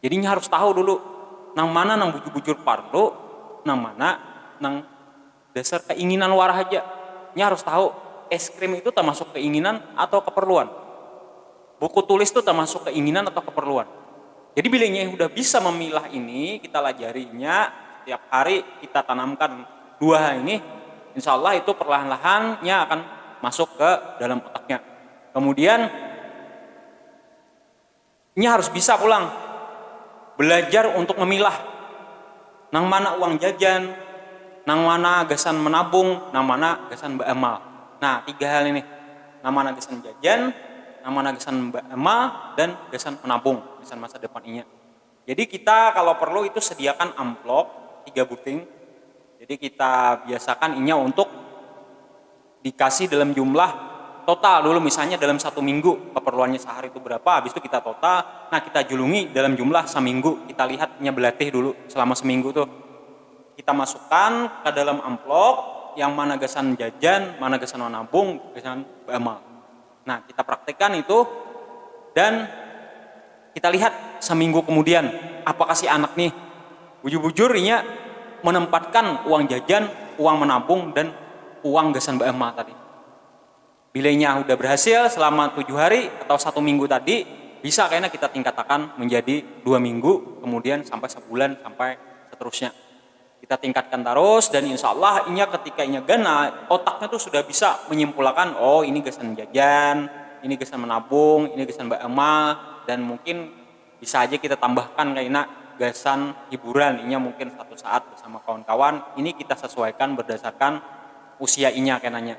Jadi inya harus tahu dulu nang mana nang bujur-bujur parlu, nang mana nang dasar keinginan wara haja. Inya harus tahu es krim itu tamasuk keinginan atau keperluan, buku tulis tu tamasuk keinginan atau keperluan. Jadi bila inya hudah bisa memilah ini, kita lajari inya setiap hari, kita tanamkan dua hal ini, insya Allah itu perlahan-lahan nya akan masuk ke dalam otaknya. Kemudian. Inya harus bisa pulang balajar untuk mamilah nang mana uang jajan, nang mana gasan manabung, nang mana gasan baamal. Nah, tiga hal ini, nang mana gasan jajan, nang mana gasan baamal, dan gasan manabung gasan masa depan inya. Jadi kita kalau perlu itu sediakan amplop tiga buting, jadi kita biasakan inya untuk. dikasih dalam jumlah total dulu misalnya dalam satu minggu keperluannya sahari itu berapa habis itu kita total nah kita julungi dalam jumlah saminggu kita lihat nya belatih dulu selama seminggu tuh kita masukkan ka dalam amplop yang mana gasan jajan mana gasan manabung gasan baamal. Nah, kita praktekkan itu dan kita lihat seminggu kemudian apakah si anak nih bujur-bujur inya menempatkan uang jajan, uang menabung dan uang gasan beema tadi. Bila inya sudah berhasil selama tujuh hari atau satu minggu tadi, bisa kena kita tingkatakan menjadi dua minggu, kemudian sampai sebulan sampai seterusnya. Kita tingkatkan tarus dan insya Allah inya ketika inya ganal otaknya tu sudah bisa menyimpulakan oh ini gasan jajan, ini gasan menabung, ini gasan baamal dan mungkin bisa haja kita tambahkan kaina gasan hiburan inya mungkin satu saat bersama kawan-kawan ini kita sesuaikan berdasarkan usia inya kenanya.